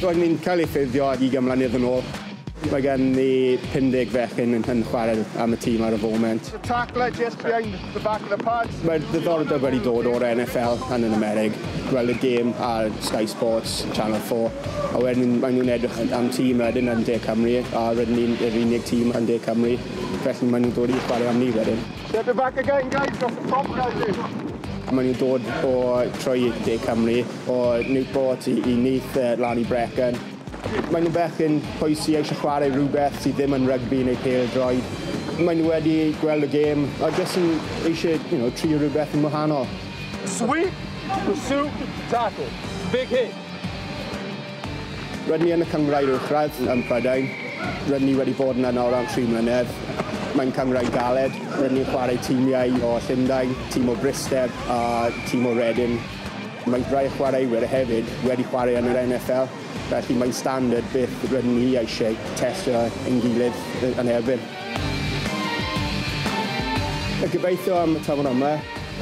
Roedd ni'n cael ei ffurfio ag ugain mlynedd yn ôl. Mae gen ni 50 fechgyn yn yn chwarae am y tîm ar y foment. The tackler just behind the back of the pads. Mae'r ddiddordeb wedi dod o'r NFL and yn Amerig, gweld y gêm ar Sky Sports, Channel 4, a wedyn maen nhw'n edrych am tîm wedyn yn De Cymru a rydyn ni'n yr unig tîm yn De Cymru, felly maen nhw'n dod i chwarae am ni wedyn. Get it back again guys, that's the top guys eh. Maen nhw'n dod o trwy De Cymru, o Newport i, i Neath uh, lan i Brecon. Maen nhw bechgyn poesi eisiau chwarae rhywbeth sydd ddim yn rygbi neu pel droed. Maen nhw wedi gweld y gêm a jyst yn eisiau you know, trio rhywbeth yn wahanol. Sweep, pursue, tackle. Big hit. Rydyn ni yn y Cynghrair Uwchradd ym Mhrydain. Rydyn ni wedi bod yna nawr am tri mlynedd. Mae'n cynghrair galed. Rydyn ni'n chwarae timiau o Llundain, tîm o Bryste a tîm o Reading. Mae rhai chwaraewyr hefyd wedi chwarae yn yr NFL, felly mae'n standard beth rydyn ni eisiau testio ein gilydd yn erbyn. Gobeithio am y tymor yma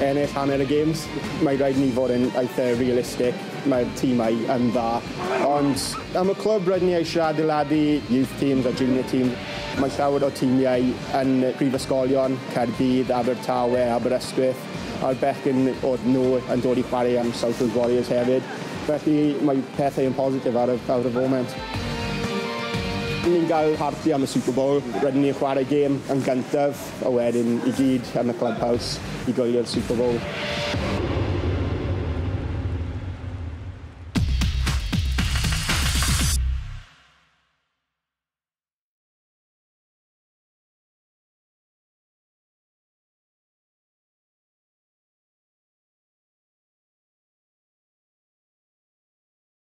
ennill hanner y gêms. Mae'n rhaid i ni fod yn eitha' realistic. Mae'r timau yn dda, ond am y clwb rydyn ni eisiau adeiladu youth teams a junior teams. Mae llawer o timiau yn prifysgolion, Caerdydd, Abertawe, Aberystwyth, a'r bechgyn oedd nhw yn dod i chwarae am South Wales Warriors hefyd. Felly mae pethau yn positif ar y, ar y foment. Ni'n cael parti am y Super Bowl, rydyn ni'n chwarae gêm yn gyntaf. A wedyn i gyd yn y Clubhouse i goelio'r Super Bowl.